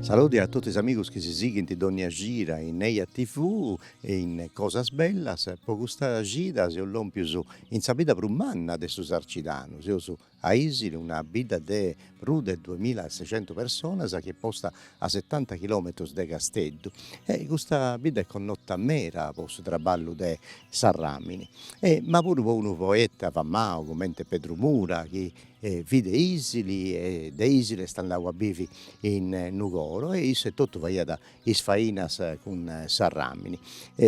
Saludi a totu is amigus chi si sighint dònnia cida in Eja TV e in Cosas Bellas. Po custa cida seus lòmpius in sa bidda prus manna de su Sarcidanu, seus a Isili, una bidda de prus de duemila e seicentus personas chi est posta a setanta chilòmetrus de Casteddu. E custa bidda est connota meda po su traballu de s'arràmini, ma puru po unu poeta famau comente Pedru Mura chi fit de Isili e de Isili est andadu a bivi in Nugoro e issu etotu faiat is fainas cun s'arràmini.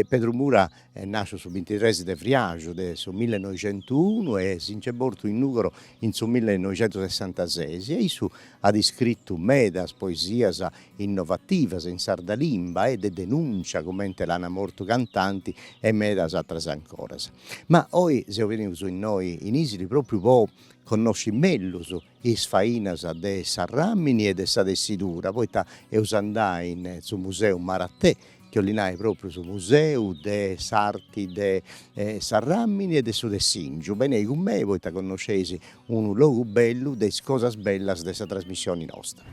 Pedru Mura est nàsciu su bintitres de friàxu de su millenoixentuunu e si nc'est mortu in Nugoro in su millenoixentusessantaseis e issu at iscritu medas poesias innovativas in sarda limba e de denùncia comente l'ana mortu cantande e medas atras ancoras. Ma oi seus benius innoi in Isili propriu po connosci mellus is fainas de s'arràmini e de sa tessidura, poita eus andai in su Museu Maratè chi 'olli nai propriu su museu de s'arti de s'Arràmini e de su Tessìngiu, benei cun mei poita connosceis unu logu bellu de is cosas bellas de sa trasmissioni nostra.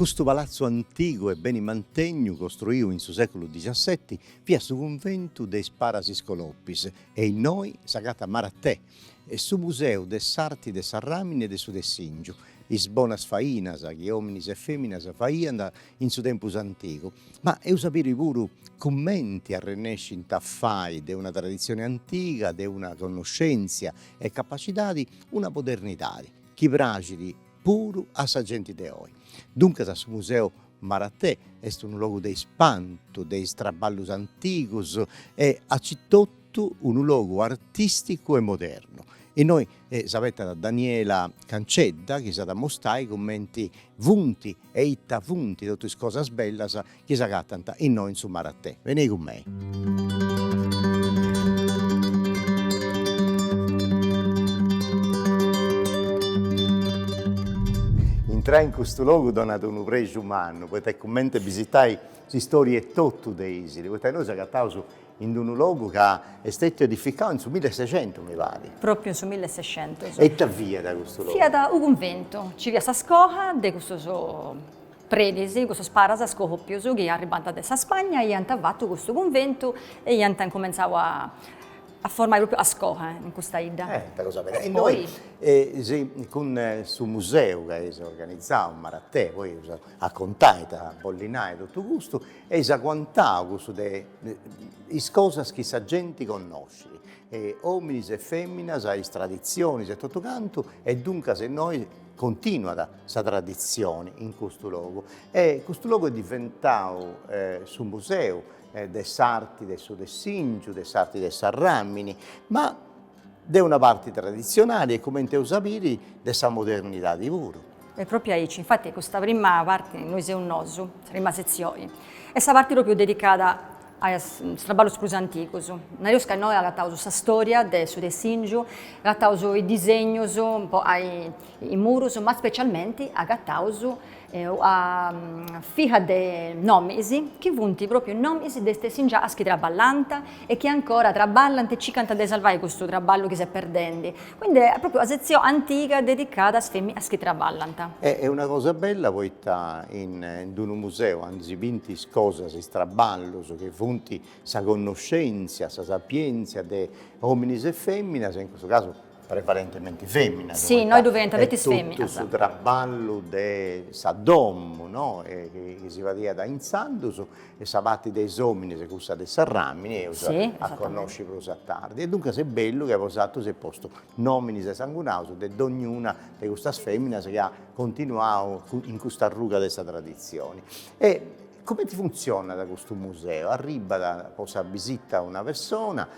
Custu palatzu antigu e beni mantegnu costruiu in su seculu dexasseti fiat su cunventu de is Paras Iscolopis e innoi s'agatat Maratè e su Museu de s'Arti de s'Arràmini e de su Tessìngiu, is bonas fainas chi òminis e fèminas faiant in su tempus antigu. Ma eus a biri puru cumenti arrennescint a fai de una traditzioni antiga, de una connoschèntzia e capacidadi, una modernidadi chi praxit puru a sa genti de oi. Duncas su Museu Maratè est unu logu de ispantu de is traballus antigus e aici totu unu logu artisticu e modernu. Innoi s'apettat Daniela Cancedda chi s'at a mustai cumenti funti e ita funti tottu is cosas bellas chi s'agatant innoi in su Maratè. Benei cun mei. Intrai in custu logu donat unu prexu mannu, poita est cumenti bisitai s'istória etotu de Isili, poita nosu s'agataus in unu logu ca est stetiu edificau in su millesexentus, mi parit. Própriu in su millesexentus. E ita fiat custu logu? Fiat u cunventu, nci fiat sa scoha de custus Predis, cussus paras scolòpius chi arribant de sa Spagna iant fatu custu cunventu e iant incumentzau a a formai pròpriu a scola in custa 'idda. Eh, ita cosa bella. E innoi, si, cun su museu chi eis organizau, Maratè, poi eus a a contai ita bollit nai totu custu, eis aguantau cussu de is cosas chi sa genti connoscit, ominis e feminas, is traditzionis e totu cantu e duncas innoi Continuat sa traditzione in custu logu e custu logu est diventau su museu de s'arti de su tessìngiu, de s'arti de s'arràmini, ma de una parti traditzionali e cumenti eus a biri de sa modernidadi puru. E pròpiu aici, infati, custa prima parte, innoi seus nosu, sa prima setzione, est sa parte pròpiu dedicada a is traballus prus antigus. Nareus ca innoi agataus sa storia de su tessìngiu, agataus is disegnus po a is murus, ma specialmenti agataus una fiha de nomis chi funt pròpriu nomis de is tessingianas chi traballant e chi ancora traballant e circant de sarvai custu traballu chi s'est perdendi. Quindi est propriu una sezione antiga dedicada a is feminas chi traballant. Est una cosa bella poita in unu museu aundi si bint is cosas, is traballus chi funt sa connoscentzia, sa sapientzia de ominis e feminas, in custu casu prevalentementi feminas, poita est totu su traballu de sa domu, no, chi si fadiat intzandus e sa pati de is ominis e cussa de s'arramini eus a connosci prus a tardi, e duncas est bellu ca bosatrus eis postu nominis e sangunaus de dognuna de custas feminas chi at continuau in custa arruga de sa traditzioni. E cumenti funtzionat custu museu? Arribat po sa bisita una pessona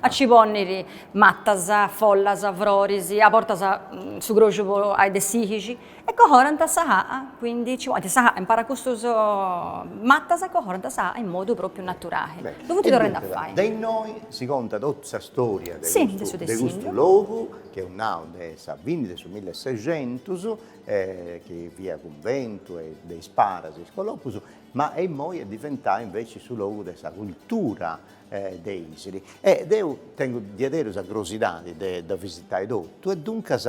A ci pònniri matas, follas, froris, a bortas su croxu po ai de s'ihixi, e cohorant sa ha'a, quindi ci ponint sa ha'a impari a custus matas e cohorant sa ha'a in modu pròpriu naturai. Beni, ddu funt torrendi a fai. De innoi si contat totu sa storia de custu de custu logu, chi eus nau de sa fini de su millesexentus, chi fiat cunventu e de is paras iscolopus, ma e imoi est diventau inveci su logu de sa cultura de Ìsili e deu tengu diaderus sa crosidadi de dda visitai totu e duncas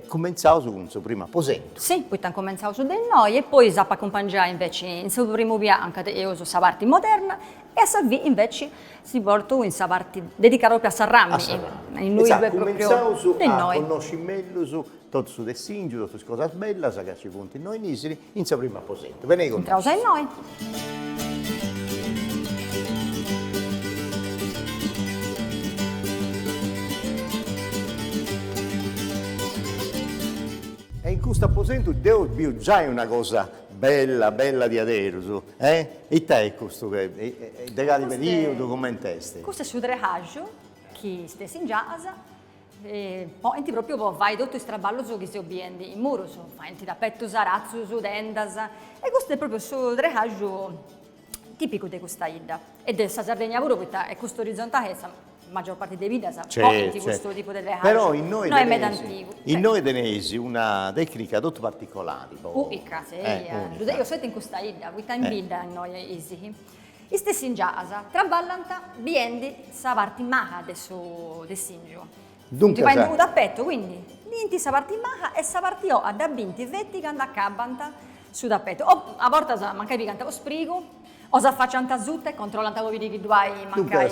cumentzaus cun su primu aposentu. Si, poita incumentzaus de innoi e poi s'apu a acumpangiai inveci in su primu pianu ca teneus sa parti moderna e a sa fini inveci si portu in sa parti dedicada propriu a s'arramini, innoi ddoi est propriu de innoi. Cumentzaus a connosci mellus totu su tessìngiu, totu is cosas bellas ca nci funt innoi in Ìsili In su primu aposentu. Benei cun nois. Intraus a innoi. E in custu aposentu deu biu giai una cosa bella bella diaderus. E ita est custu, de cali periudu, cumenti est? Custu est su trexaju chi stessi in giasa Faint pròpiu po fai totu is traballus chi seus biendi in murus, faint tapetus, aratzus, tendas, e custu est pròpiu su trexàgiu tìpicu de custa 'idda, e de sa Sardegna puru, poita est custu orizontali e sa magior parti de biddas faint custu tipu de trexàgiu, però innoi teneis una tècnica totu particolari. Unica, si, ddu teneus sceti in custa 'idda, poita in bidda innoi is Is tessingianas traballant biendi sa parti maha de su tessingiu. Duncas faint unu tapetu, quindi, bint sa parti maha e sa parti oha dda bint feti candu acabant su tapetu. O a bortas mancai pigant unu sprigu, o s'afaciant asuta e controllant po biri chi ddu hai mancai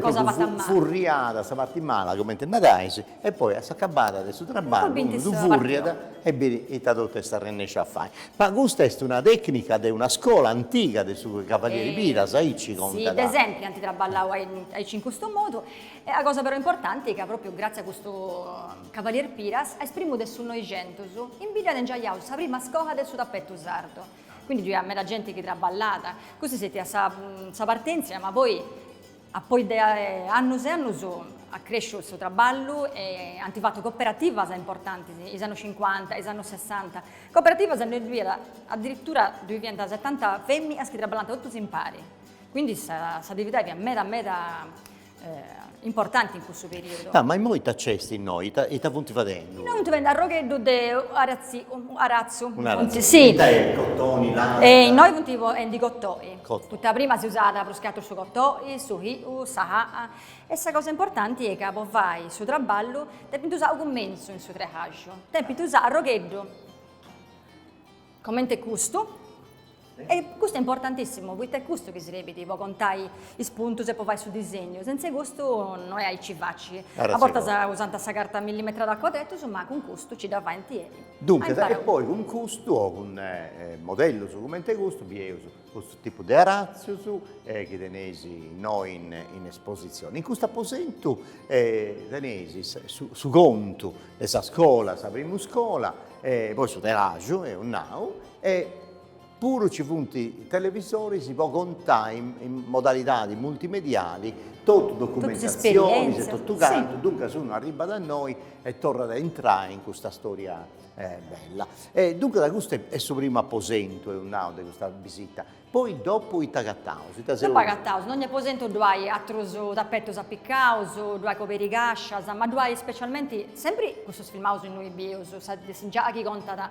cosa fata malu. Duncas, sa tela fut furriada, sa parti mala, cumenti narais, E poi a s'acabada de su traballu unu ddu furriat e bit ita totu est arrennesciu a fai. Ma custa est una tecnica de una scola antiga de su cavalieri Piras, aici contant. Si, de sempri ant traballau aici in custu modu. E una cosa però importanti ca propriu gratzi a custu cavalier Piras a is primus de su Noixentus in bidda at inghitzau sa prima scola de su tapetu sardu. Quindi giai meda genti chi traballat. Custa est stètia sa partentzia ma poi A poi de annus e annus at cresciu su traballu e ant fatu coperativas importantis, is annus cincuanta, is annus sessanta, coperativas anca ddoi fiat adiritura ddoi fiant setanta feminas chi traballant totus impari, quindi s'atividadi fiat meda meda importanti in cussu periudu. Ah, ma immoi ita nc'est innoi, ita ita funt fadendi? Innoi funt fadendi arrogheddu de aratzi, aratzu, funt, si, Ita est, cotoni, lana? E innoi funt usendi cotoi Poita prima si usat prus che atru su cotoi, su hiu, sa làa e sa cosa importanti est ca po fai su traballu depint usai a cummentzu in su trehaju, depint usai un'arrogheddu comente custu e custu est importantissimu poita est custu chi serbit po contai is puntus e po fai su disegnu, sentze custu no est aici faci, a bortas usant sa carta millimetrada a cuadretus ma cun custu ci dda faint Duncas, e poi cun custu o cun modellus cumenti custu bieus custu tipu de aratzus chi teneis innoi in espositzioni. In custu aposentu teneis su contu de sa scola, sa primu scola, poi su telaxu, eus nau, e Puru nci funt televisoris po contai in modalidadi multimediali totu documentatzionis e totu cantu, duncas unu arribbat a noi e torrat a intrai in custa storia bella. E duncas custu est su primu aposentu, eus nau, de custa bisita, poi dopu ita agataus? Dopu agataus, in donnia aposentu ddu hai atrus tapetus apicaus, ddu hai cobericascias, ma ddu hai specialmenti, sempri cussus filmaus innui bius, sa de s'ingiai chi contat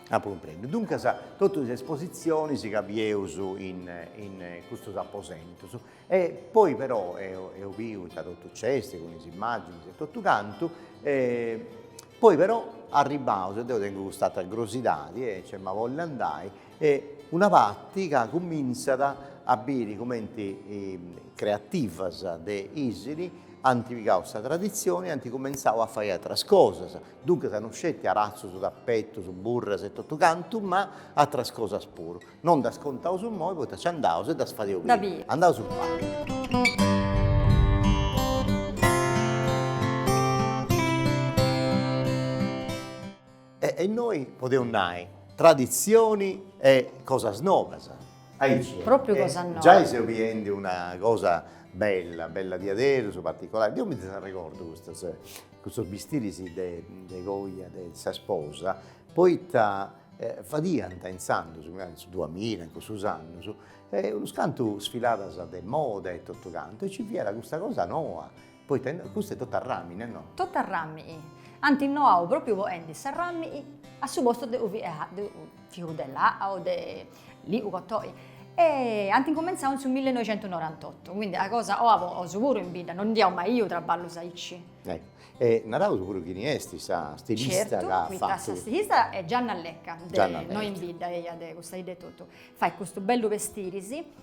apu cumprendiu. Duncas totu is espositzionis ca bieus in custus aposentus e poi però apu biu ita totu nc'est cun is immàginis e totu cantu e poi però arribbaus e deo tengu cust'atera curiosidadi e nc'est ma bolli andai est una parti ca cumintzat a biri cumenti creativas de Isili ant pigau sa traditzioni e ant cumentzau a fai ateras cosas Duncas non sceti aratzus, tapetus, burras e totu cantu, ma atras cosas puru. Non ddas contaus immoi poita nci andaus e ddas fadeus biri. Da biri. Andaus unu pagu. E innoi podeus nai, traditzioni e cosas nobas. Aici. Propriu cosas nobas. Giai seu biendi una cosa bella, bella diaderus, particolari. Deu mi ddas arregordu custas. Cussus bistiris de coja de sa sposa poita fadiant intzandus, in su duamilla in cussus annus, unus cantu sfiladas de moda e totu cantu e ci fiat custa cosa noa, poita innoi custa est totu a ramini no? Totu a ramini, ant innoau propriu poendi s'arramini a su postu de su fiu de laa o de lĩu o cotõi, E ant incumentzau in su millenoixentunorantotto, quindi una cosa noa po nosu puru in bidda, non ndi iaus mai biu traballus aici. Ecco, e naraus puru chini est sa stilista ca at fatu. Sa stilista est Gianna Lecca, de innoi in bidda eia de custa 'idda etotu, fait custu bellu bestiris,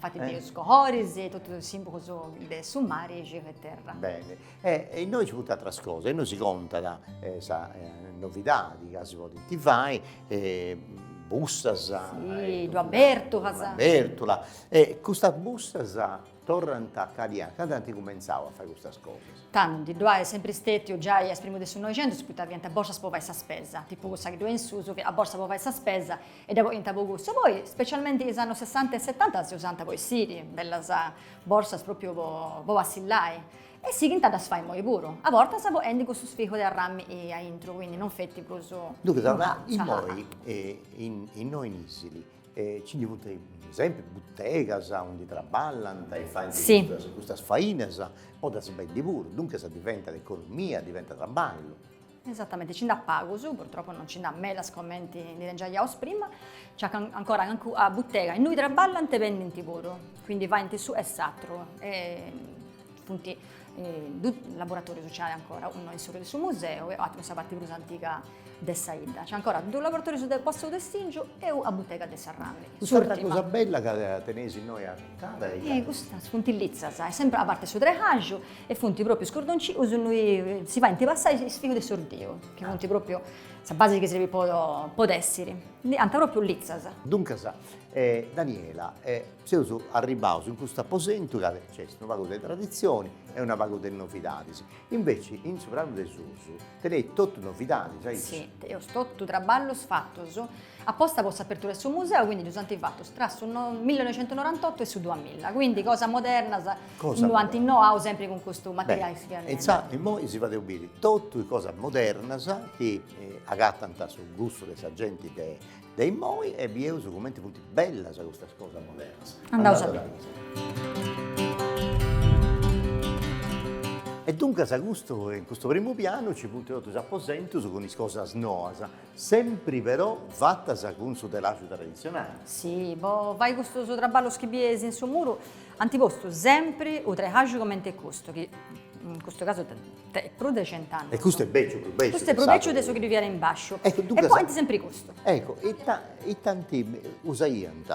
Infati is cohoris e totus is simbugus de su mari e cieu e terra. Beni. E innoi nci funt atras cosas, innoi si contat sa novidadi ca si podint fai bussas, una bèrtula, e custas bussas torrant a cali annu, candu ant cumentzau a fai custas cosas? Tandu ddu at sempri stètiu giai a is primus de su Noixentus poita fiant borsas po fai sa spesa, tipu cussa chi ddoi est in susu, sa borsa po fai sa spesa e dda poniant po cussu, poi specialmenti is annus sessanta e setanta si usànt po essiri, bellas borsas propriu po po passillai, e sighint a ddas fai immoi puru, a bortas poendi cussus figus de arrami a intru, quindi non feti prus Duncas immoi innoi in Isili ci ndi funt sempri butegas undi traballant e faint custas fainas, po ddas bendi puru, duncas diventat economia, diventat traballu Esatamente, nci nd'at pagus, purtroppo non nci nd'at medas comenti ndi teniaus prima, nci at ancora calincuna butega innui traballant e bendint puru, quindi faint s'unu e s'atru e funt dus laboratorius nc'at ancora, unu in s'oru de su museu e aturu in sa parti prus antiga de sa 'idda, nc'at ancora dus laboratorius de posta 'e tessingiu e una butega de s'arràmini, s'urtima. Custa cosa bella ca teneis innoi acanta ita est. Custas funt litzas, est sempri a parti 'e su trehaju E funt pròpriu is cordoncius innui si faint passai is fius de s'ordeu, chi funt pròpriu sa basi chi serbit po tèssiri. Ddi nant pròpriu litzas. Duncas, Daniela, seus arribbaus in custu aposentu ca nc'est una pagu de traditzioni e una pagu de novidadis. Inveci in su pranu de susu teneis totu novidadis, aici. Teus totu traballus fatus aposta po s'apertura de su museu, quindi ddus ant fatus tra su millinoixentunorantotu e su duamilla, quindi cosas modernas. Cosa Lu ant innoau sempri cun custu materiali chi fiat nendi. E immoi si fadeus biri totus is cosas modernas chi agatant su gustu de sa genti de immoi e bieus cumenti funt bellas custas cosas modernas. Andaus a biri. E duncas custu in custu primu pianu nci funt totus is aposentus cun is cosas noas, sempri però fatas cun su telaxu traditzionali. Si, po fai custus traballus chi bieis in su muru Ant postu sempri u trehaju comente custu chi in custu casu tenit prus de cent'annus. E custu est bèciu prus bèciu. Custu est prus bèciu de su chi ddu fiat in bàsciu. E point sempri custu. Ecco, ita ita ant usaiant,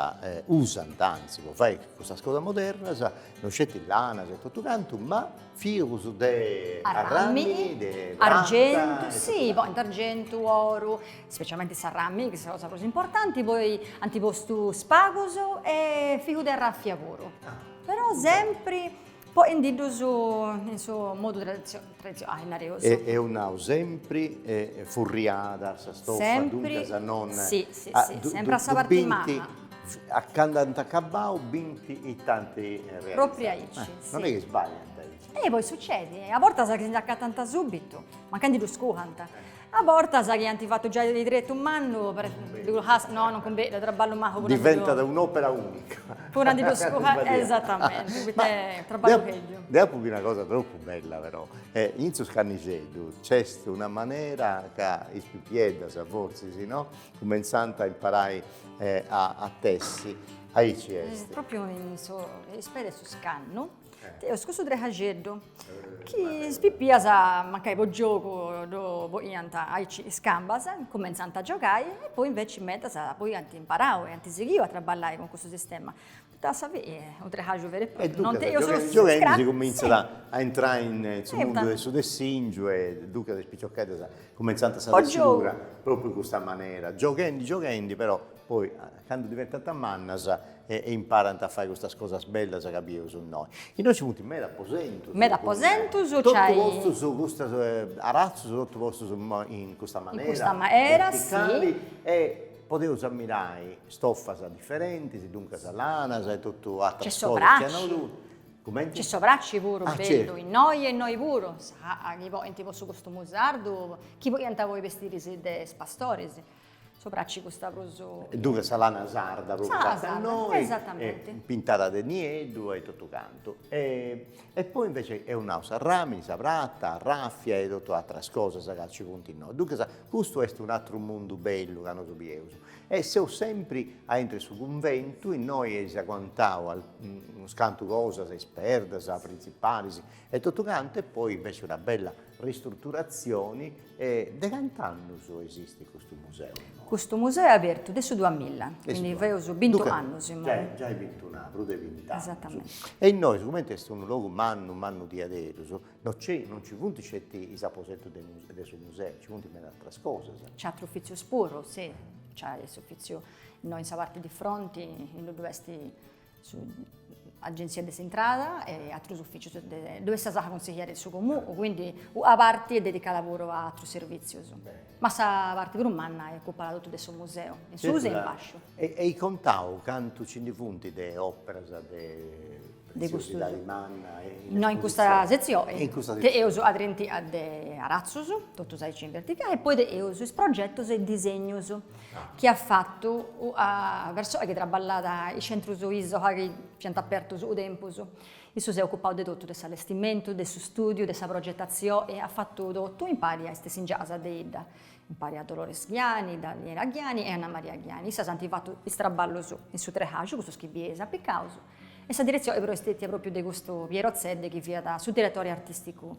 usant anzi po fai custas cosas modernas, no sceti lanas e totu cantu, ma. Fius de arràmini, de argentu, si, point argentu, oru, specialmenti s'arràmini chi est sa cosa prus importanti, poi ant postu spagus e fiu de arràfia puru, però sempri poendiddus in su modu traditzionali, nareus. Eus nau sempri furriada sa stofa, duncas non, si, si, si, sempri a sa parti maha. A candu ant acabau bint it'ant realizau. Propriu aici, si. Non est chi sbagliant aici. E poi sucedit, a bortas chi si nd'acatant subitu, mancai ndi ddu scuhant, a bortas chi ant fatu giai de tretu mannu, no non cumbenit, traballu mahu puru a ndi ddus. Diventat un'opera unica. Puru a ndi ddu scuhai, esatamenti, poita est traballu bellu. Deu apu biu una cosa tropu bella però, in su scannixeddu nc'est una manera ca is pipieddas fortzis no, Cumentzant a imparai a tessi, aici est. Propriu in is peis 'e su scannu teus cussu trehajeddu chi is pipias mancai po giogu ddu poiant aici is cambas, cumentzant a giogai e poi inveci medas poi ant imparau e ant sighiu a traballai cun cussu sistema. Po ddas a biri, unu trexaju veru e propriu, no? E duncas issas gioghendi, gioghendi si cumintzat a intrai in su mundu de su tessìngiu e duncas is picioccheddas cumentzant sa tessidura propriu in custa manera, gioghendi, gioghendi però poi candu diventant mannas e imparant a fai custas cosas bellas ca bideus innoi. Innoi nci funt meda aposentus, meda aposentus, totus custus aratzus totu postus in custa manera, in custa manera, verticali e Podeus ammirai stofas diferentis, duncas lanas e totu atras cosas chi ant avutu. Cumenti? Nc'est s'obraci puru, bellu, innoi e innoi puru, esat chi ponint po su costumu sardu, chi podiant poi bestiris de is pastoris, s'obraci custa prus. E duncas sa lana sarda propriu fatta innoi, esatamenti, pintada de nieddu e totu cantu. E poi invece eus nau s'arramini, sa prata, arraffia e tottu atras cosas ca ci funt innoi. Duncas custu est un atru mundu bellu ca nosu bieus. E seus sempri a intro 'e su cunventu, innoi eis aguantau unus cantu cosas, is perdas prinzipalis e tottu cantu e poi invece una bella Ristruturatzioni e de cant'annus esistit custu museu? Custu museu est abertu de su duamilla, quindi feus bint'annus imoi. Giai bintunu, prus de bint'annus. Esatamenti. E innoi sicumenti est unu logu mannu mannu diaderus, no nc'est, no nci funt sceti is aposentus de de su museu, nci funt meda ateras cosas. Nc'est aterus ufitzius puru, si, nc'est s'ufitziu innoi in sa parti de fronti, indui dd'est s'Agenzia de s'Intrada e atrus ufìcius ddoi est sa saha consigliera de su Comunu, quindi una parti est dedicada puru a atrus servìtzius. Ma sa parti prus manna est ocupada totu de su museu, in suus e in basciu. Eis contau cantu nci ndi funt de òperas de tessìngiu mannas innoi? In custa setzioni teneus a trintina de aratzus, totus aici in verticali, e poi teneus is progetus e is disegnus chi at fatu a persoa chi traballàt in is centrus ISOLA chi fiant apertus u tempus. Issu s'est ocupau de totu de s'allestimentu, de su studiu, de sa progetatzioi, at fatu totu impari a is tessingianas de bidda, impari a Dolores Ghiani, Daniela Ghiani e Anna Maria Ghiani. Issas ant fatu is traballus in su trexaju, cussus chi bieis apicaus, e sa diretzioi però est stetia propriu de custu Piero Zedde chi fiat su diretori artisticu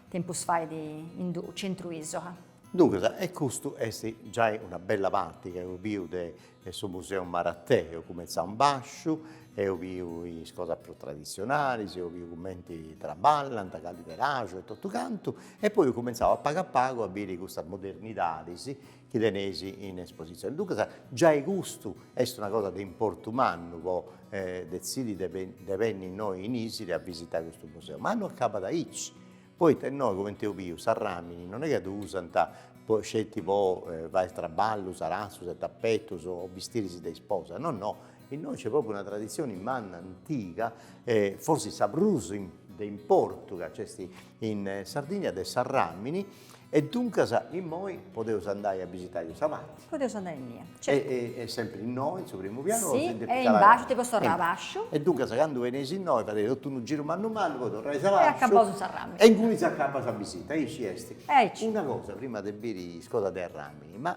tempus fait in su centru ISOLA. Duncas, e custu est giai una bella parti chi eus biu de su Museu Maratè, eus cumenzau in basciu, eus biu is cosas prus traditzionalis, eus biu cumenti traballant, cali trexaju e totu cantu, e poi eus cumenzau a pagu a pagu a biri custas modernidadis chi teneis in espositzioni. Duncas, giai custu est una cosa de importu mannu po detzidi de de benni innoi in Isili a visitai custu museu, ma no acabat aici, Poita innoi, comente eus biu, s'arràmini non est chi ddu usant sceti po fai is traballus, aratzus e tapetus o bistiris de isposa, no no, innoi nc'est pròpriu una traditzioni manna, antiga e forsis sa prus de importu chi nc'est in Sardigna de s'arràmini E duncas immoi podeus andai a bisitai custa parti. Podeus andai innia, certu. Est sempri innoi, in su primu pianu o si depit calai. Est in bàsciu, depeus torrai abasciu. E duncas candu beneis innoi fadeis totu unu giru mannu mannu poi torrais abasciu. E acabaus in s'arràmini. E ingunis acabat sa bisita, aici est. Aici. Una cosa prima de biri is cosas de arràmini, ma.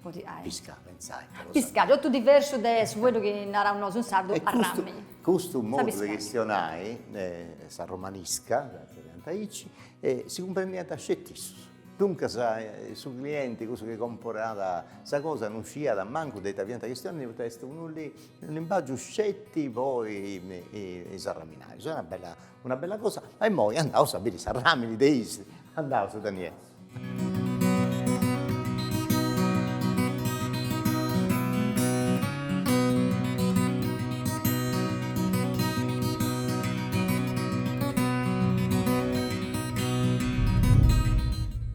Podi ai. Piscà, pentzai. Ah, piscàgiu, totu diversu de su fueddu chi naraus nosu in sardu, arrammi. Custu modu de chistionai, sa romanisca, chi nant aici, si cumprendiant sceti issus. Duncas su clienti, cussu chi comporat sa cosa, non sciiat mancu de ita fiant chistionendi poita est unu limbàgiu sceti po is arraminajus. Una bella cosa. E imoi andaus a biri s'arràmini de Ìsili. Andaus Daniele.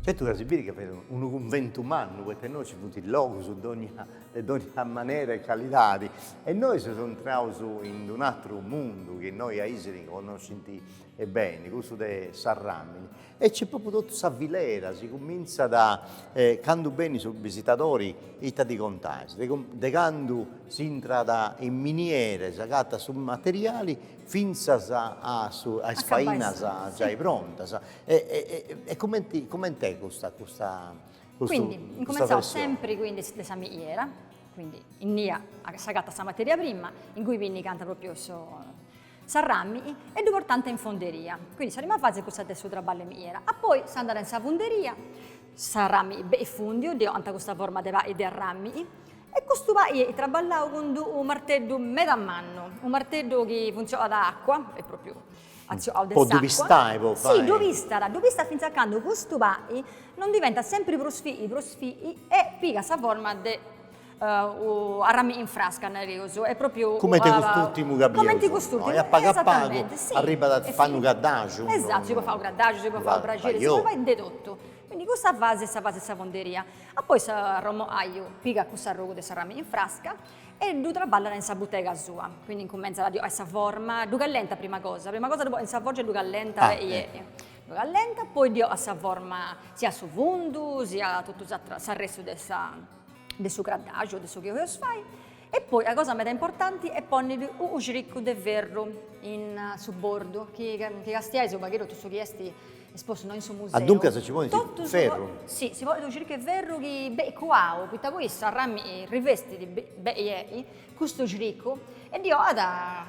Certu ca si biri ca fit unu cunventu mannu, poita innoi ci funt logus de dogna manera e calidadi e innoi seus intraus in d'un'atru mundu chi innoi a Ìsili connoscint Beni, cussu de s'arràmini. E nc'est propriu totu sa filera, si cumintzat candu benit su bisitadori, ita ddi contais, de de candu s'intrat in miniera, s'agatat su materiali, fintzas a su a is fainas giai prontas. E cumenti coment'est custa custa custu Quindi incumentzaus sempri quindi de sa miniera, quindi innia s'agatat sa materia prima, ingui pinnicànta propriu su s'arrami e ddu portànt in fonderia, quindi sa prima fasi cussa de su traballu 'e miniera, a poi s'andat in sa funderia, s'arrami benit fùndiu, ddi 'onant custa forma de pai de arrami, e custu pai est traballau cun d'unu marteddu meda mannu, unu marteddu chi funtzionat a acua, est propriu atzionau de s'acua. Po ddu pistai po fai. Sì, ddu pistat, ddu pistat fintzas a candu custu pai non diventat sempri prus fii prus fii e pigat sa forma de arrami in frasca nareus est propriu cumenti cust'urtimu ca bieus cumenti cust'urtimu a pagu a pagu arribat a fai unu caddaju esattu si podit fai unu caddaju si podit fai unu braxeri si podit fai de totu quindi custa fasi est sa fasi 'e sa fonderia a poi s'arramanaju pigat cuss'arrogu de s'arrami in frasca e ddu traballat in sa butega sua quindi incumentzat a ddi 'onai sa forma ddu callentat prima cosa prima cosa in sa forgia ddu callentat ddu callentat poi ddi 'onat sa forma siat su fundu siat totu s'ateru s'arrestu de sa de su craddaxu o de su chi 'oios fai e poi a cosa meda importanti est ponniri u xiriccu de ferru in su bordu chi chi castiais u pagheddu totu su chi esti espostu no in su museu. Ah duncas ci ponit ferru. Si si ponit u xiriccu 'e ferru chi beit cuau poita poi sa rami rivestit bei custu xiriccu e ddi 'oat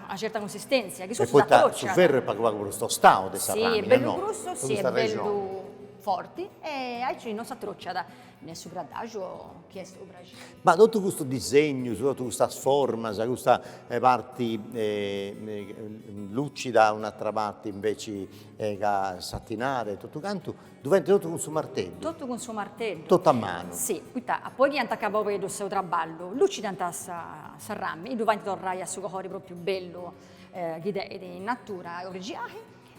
una certa cunsistentzia chi custu s'atrociat. Su ferru est pagu pagu prus tostau de sa ramini no. Si est bellu grussu si est bellu forti e aici no s'atrociat Nè su craddaxu o chi est su braxeri. Ma totu custus disegnus, totu custas formas, custa parti lucida un'atra parti inveci ca satinada e totu cantu, ddu faint totu cun su marteddu? Totu cun su marteddu. Totu a manu. Si, poi chi ant acabau perus su traballu, lucidant sa rami e ddu faint torrai a su colori propriu bellu chi teidi in natura e origiali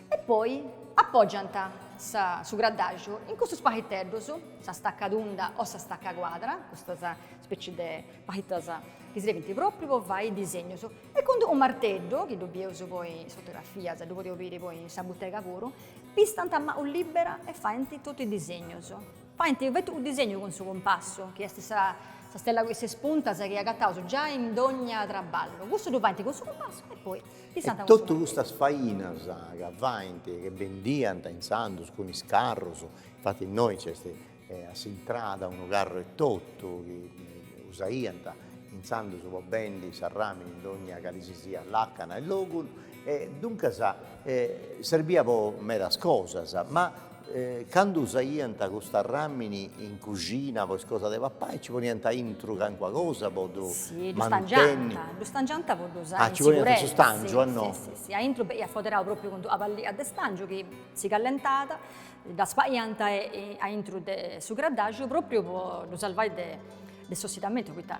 E poi apògiant su graddàxiu in custus paleteddus, sa stacca tunda o sa stacca cuadra, custas speci de palitas chi srebint pròpriu po fai disegnus, e cun unu marteddu, chi ddu bieus poi in is fotografias e ddu podius biri poi in sa butega puru, pistant a manu libera e faint totu is disegnus. Faint feti unu disegnu cun su cumpassu, chi est sa stella cun is ses puntas chi agataus giai in dogna traballu. Cussu ddu faint cun su cumpassu e poi pistant cun su marteddu. E totu custas fainas ca faint, chi bendiant intzandus cun is carrus, infati innoi nc'est a s'intrada unu carru etotu chi usaiant intzandus po bendi s'arrami in dogna cali si siat làcana e logu, duncas serbiat po medas cosas, ma Candu usaiant custa ramini in cuxina po is cosa de papai ci poniant aintru cancuna cosa po ddu mantenni. Si, ddu stangiant po ddu usai in siguresa. Ah, ci poniant su stangiu, ah no. Si, si, si, aintru beniat foderau propriu cun d'una pallia de stangiu chi si callentàt, dda spaiant aintru de su craddaxu propriu po ddu salvai de s'ossidamentu poita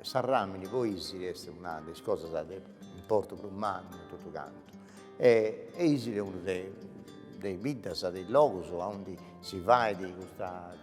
Sa ràmini po Isili est una de is cosas de importu prus mannu in totu cantu e Isili est unu de is biddas, de is logus aundi si fait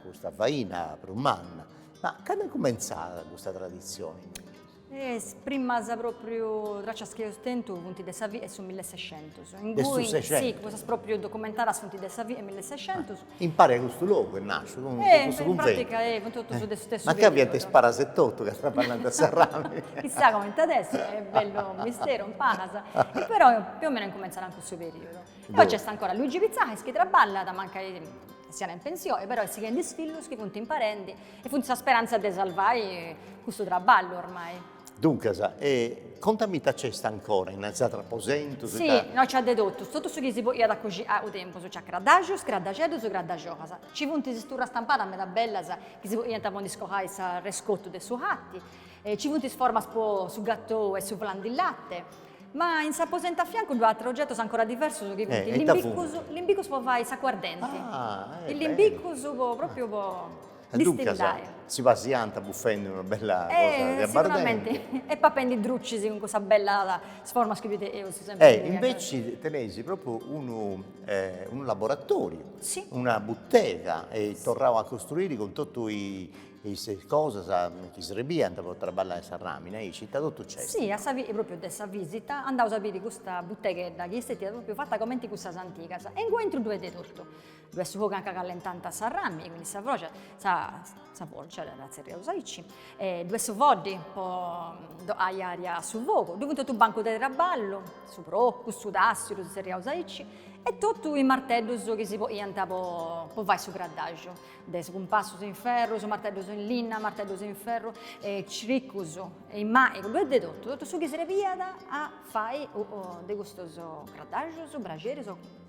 custa faina prus manna. Ma cando est cumentzada custa traditzioni? Is primas pròpriu tràcias chi eus tentu funt de sa fie 'e su millesexentus. De su sexentus? Si, cussas pròpriu documentadas funt de sa fie 'e millesexentus. Impari custu logu est nasciu cun cussu cunventu. E in pratica cun totu su. Mancai fiant is paras etotu ca traballànt s'arrami. Chissà comenti at a essi, est bellu misteru in paras. E però più o meno incumentzant in cussu periodu. E poi nc'est ancora Luigi Pitzalis chi traballat, mancai siat in pensioni, però est sighendi is fillus chi funt imparendi e funt sa speranza de salvai custu traballu ormai. Duncas, e conta mi ita nc'est ancora in is atrus aposentus? Si, no nci at de totu, totu su chi si poniat a coxinai u' tempus, nci at craddaxus, craddaxeddus, craddaxolas, nci funt is turras stampadas meda bellas chi si poniant po ndi scolai s'arrescotu de su lati, nci funt is formas po su gatou e su flan di latte, ma in s'aposentu a fiancu ddoi at atrus ogetus ancora diversus chi funt limbicus, limbicus po fai s'acuardenti, is limbicus po, propriu po E duncas si pasiant bufendi una bella cosa de abbardenti. E papendi drucis cun cussas bellas formas chi fite eus sempri nai. E inveci teneis propriu unu unu laboratoriu, una butega eis torrau a costruiri cun totu is cosas chi srebiant po traballai s'arràmini aici, ita totu nc'est? Si, a sa propriu de sa visita andaus a biri custa buteghedda chi est stetia propriu fata comenti cussas antigas e inguni intru ddoi est de totu. Ddu est su fogu anca callentant s'arrami, quindi sa froja, sa sa forja dda tzerriaus aici, e ddu 'est su foddi po fai aria a su fogu, ddu funt totu bancus de traballu, su procu, su tassiu ddu tzerriaus aici, e totu is marteddus chi si poniant po po fai su craddaxu, de is cumpassus in ferru, is marteddus in linna, marteddus in ferru, e ciricus, e in maigu, ddu 'est de totu, totu su chi srebiat a fai de custus craddaxus, braxeris o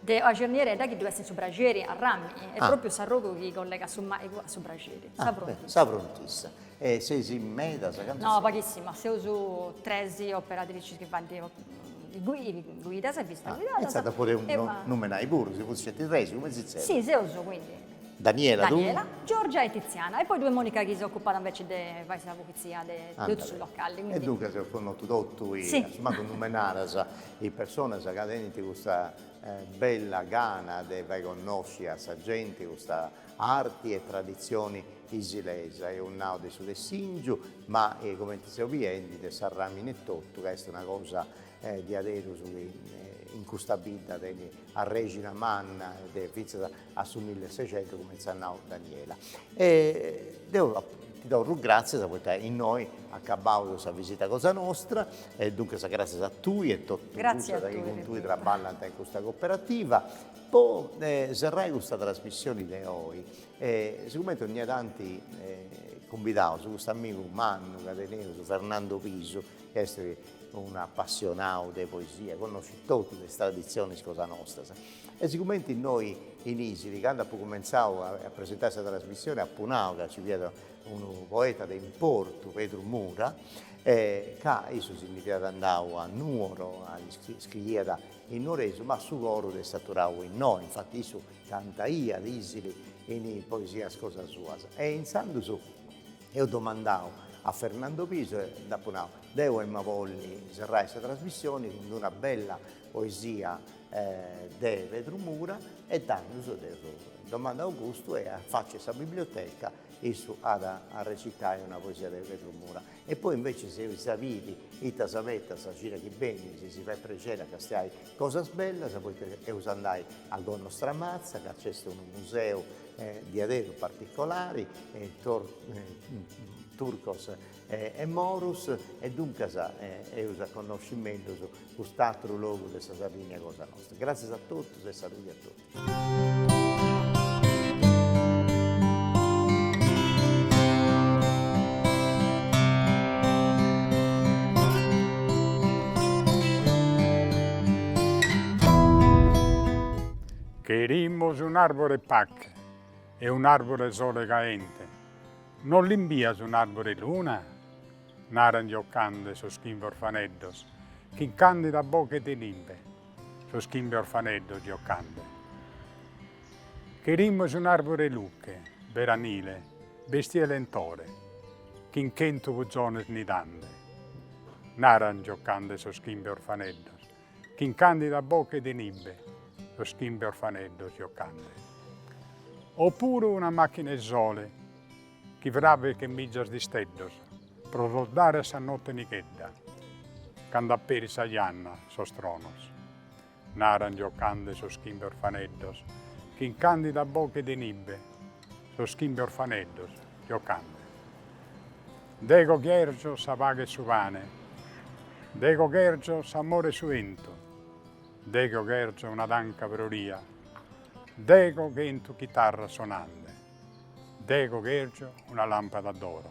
De sa cernieredda chi ddu est in su braxeri, de arrami, est pròpiu s'arrogu chi collegat su màigu a su braxeri, sa frontissa. Sa frontissa. E seis medas? Cantu seis? No, paghissimas, seus tres operatricis chi faint guidas e visitas guidadas. E intzandus podeus numenai puru, si funt sceti tres, cumenti si tzerriant? Si, seus, quindi, Daniela, Giorgia e Tiziana, e poi ddoi est Monica chi s'ocupat inveci de fai sa pulitzia de totu su locali. E duncas eus connotu totu, assumancu numenadas, is personas ca tenint custa bella gana de fai connosci a sa genti custa arti e traditzioni isilesa, eus nau de su tessìngiu, ma cumenti seus biendi de s'arràmini etotu, ca est una cosa diaderus chi in custa bidda tenit arrexina manna e de fintzas a su millesexentu cumenti s'at nau Daniela e deu ti torru gratzias poita innoi acabaus sa visita cosa nostra e duncas gratzias a tui e totus cussas chi cun tui traballant in custa coperativa po serrai custa trasmissioni de oi e sigumenti ogni tanti cumbidaus custu amigu mannu ca teneus Fernando Pisu chi est un'apassionau de poesia connoscit totus is traditzionis cosa nostras E sigumenti innoi in Isili, candu apu cumentzau a presentai sa trasmissioni, apu nau ca ci fiat unu poeta de importu, Pedru Mura, e ca issu si ndi fiat andau a Nuoro, scriiat in nuoresu, ma su coru dd'est aturau innoi, infati issu cantaiat Isili in poesias cosa suas. E intzandus eus domandau a Fernando Piso e dd'apu nau, deu em'a bolli serrai sa trasmissioni cun d'una bella poesia de Pedru Mura e tandus dd'eus domandau custu e faci a sa biblioteca issu at a recitai una poesia de Pedru Mura e poi invece eis a biri ita s'abetat sa cira chi benit si si fait prexeri a castiai cosas bellas poita eus a andai a Gonnostramatza ca nc'est unu museu diaderu particolari Turcus e Morus e duncas eus a connosci mellus cust'atru logu de sa Sardigna cosa nostra. Gràtzias a totus e saludi a totus. Cherimus un'àrbore 'e pache e un'àrbore 'e sole caente. Non l'imbias un'àrbore 'e luna? naran giocande sos chimbe orfaneddos, chin càndida boche de nibe sos chimbe orfaneddos giocande. Cherimus un'àrbore 'e luche, beranile, bestiu 'e lentore, chin chentu puzones nidande, naran giocande sos chimbe orfaneddos. Chin candida boche de nibe. Sos chimbe orfaneddos giocande. O puru una machina 'e sole. Chi fràvichet mizas d'isteddos. Pro los dare a sa notte nichedda. Cando aperit sa janna a sos tronos. Naran giocande sos chimbe orfaneddos. Chin candida boche de nibe. Sos chimbe orfaneddos giocande. Dego cherjo sa paghe e su pane. Dego cherjo s'amore e su 'entu. Dego cherjo una tanca froria. Dego chentu chitarras sonande. Dego cherjo una lampada d'oro.